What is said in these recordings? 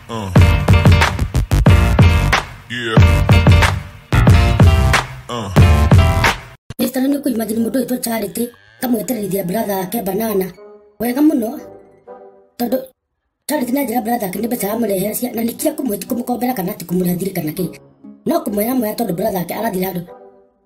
Uh. Yeah. Uh. Mr. nĩ kũimagine mũndũ wĩtwo Charity kamwetererithia brother ake banana wega mũno tondũ Charity na njĩra brother ake nĩ mbeca amũrehera cia na nĩkia kũmũkombera kana ti kũmũrehera thiri kana kĩ no kũmwĩra mwega tondũ brother ake arathira andũ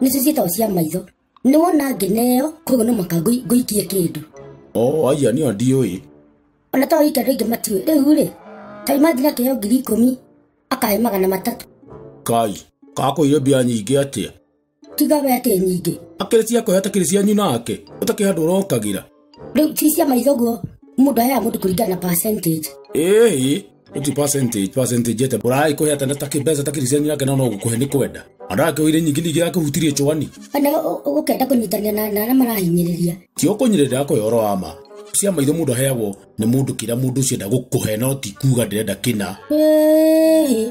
nĩcio ciĩtagwo cia maitho nĩ wona ngĩneo koguo no mũhaka ngũi- ngũikie kĩndũ o aia nĩo ndiũĩ ona to wike andå aingä matiå rä u rä ta imanjiri akä ngiri ikå akahe magana matatå kai kakũire mbia nyingĩ atĩa tiga we atä nyingä akĩrĩ ciakwa atakĩrĩ cianyu nake ũtakĩhandũ ũrokagĩra rĩu cicia maitho guo mũndũ aheaga mũndũ kũringana na percentage ĩĩ uti percentage percentage ete bora ikuhe atenda ta kibesa ta kiriseni yake na no gukuhe ni kwenda andaa ke wire nyingi nyingi yake hutirie chwani kana ũ- ũ- ũkenda kũnyitania na na arĩa marahinyĩrĩria ti ukunyirira yako yoro ama cia maitho mundu aheagwo ni mundu kira mundu ucio ndagukuhe no ti kuga ndirenda kina Ĩĩ.